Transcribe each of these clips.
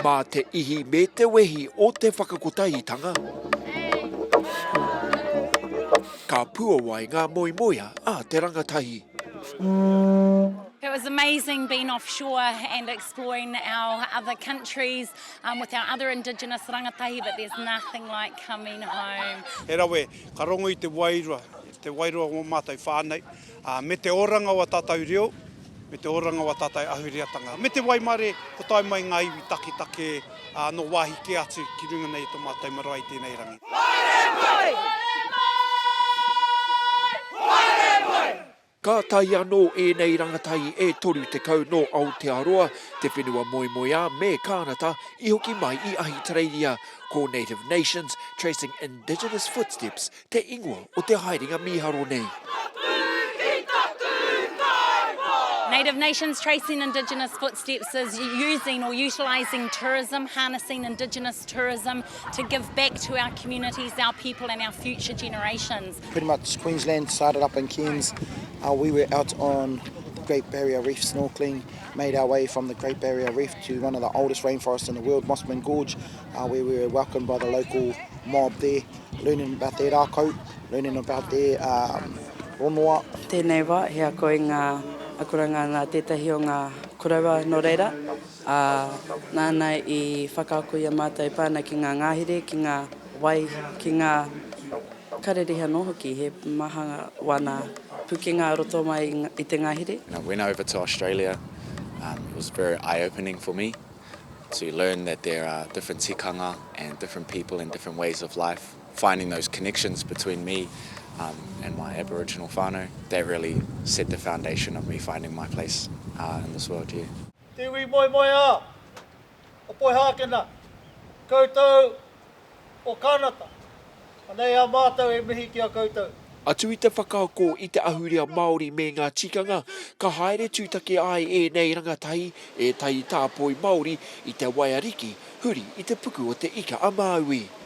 Mā te ihi me te wehi o te whakakotahitanga, ka puawai ngā moemoea a te rangatahi. It was amazing being offshore and exploring our other countries with our other indigenous rangatahi, but there's nothing like coming home. He rawe Ka rongo i te wairua, i te wairua o ngō mātou whānau, ā, me te oranga o ā tātou reo, me te oranga o ā tātou ahureatanga, me te waimare kua tae mai ngā iwi taketake nō wāhi kē atu ki runga nei i tō mātou marae i tēnei rangi. Haere mai! Haere mai! Haere mai! Ka tae anō ēnei rangatahi e 30 nō Aotearoa, te whenua moemoeā me Kānata i hoki mai i Ahitereiria, ko Native Nations, Tracing Indigenous Footsteps te ingoa o te haerenga mīharo nei. Native Nations, Tracing Indigenous Footsteps is using or utilising tourism, harnessing Indigenous tourism to give back to our communities, our people and our future generations. Pretty much Queensland started up in Cairns, we were out on the Great Barrier Reef snorkeling, made our way from the Great Barrier Reef to one of the oldest rainforests in the world, Mossman Gorge, where we were welcomed by the local mob there, learning about their rākau, learning about their um, ronua. Tēnei wā, he ako i ngā akoranga nā tētahi o ngā koroua nō reira, a, nāna i whakaako i a mātou pāna ki ngā ngāhere, ki ngā wai, ki ngā Karere anō hoki, he maha ngā wana pukenga roto mai i te ngahere. When I went over to Australia, um, it was very eye-opening for me to learn that there are different tikanga and different people and different ways of life. Finding those connections between me um, and my Aboriginal whānau, that really set the foundation of me finding my place uh, in this world here. Te iwi moemoeā! o Poihākena, koutou o Kānata, anei a mātou e mihi ki a koutou. Atu i te whakaako i te ahurea Māori me ngā tikanga, ka haere tūtaki ai ēnei rangatahi ētahi tāpoi Māori i te wai ariki huri i te puku o Te Ika-a-Māui.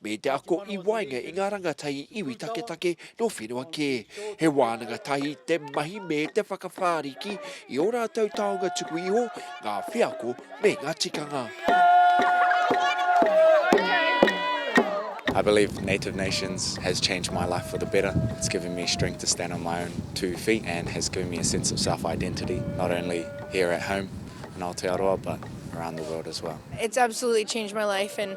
me te ako i waenga i ngā rangatahi iwi taketake nō whenua kē. He wānanga tahi te mahi me te whakawhāriki i ō rātou taonga tuku iho, ngā wheako me ngā tikanga. I believe Native Nations has changed my life for the better. It's given me strength to stand on my own two feet and has given me a sense of self-identity, not only here at home in Aotearoa, but around the world as well. It's absolutely changed my life and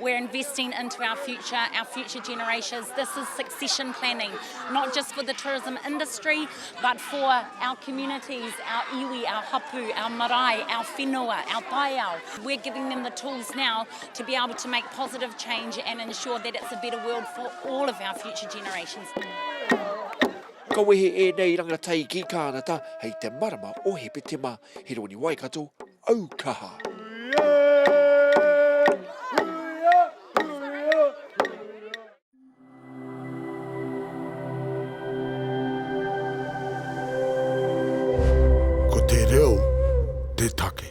We're investing into our future, our future generations. This is succession planning, not just for the tourism industry, but for our communities, our iwi, our hapu, our marae, our whenua, our taiao. We're giving them the tools now to be able to make positive change and ensure that it's a better world for all of our future generations. Ka wehe e nei rangatahi ki Kānata hei te marama o Hepetema. He roni Waikato, aukaha. Ko te reo te take.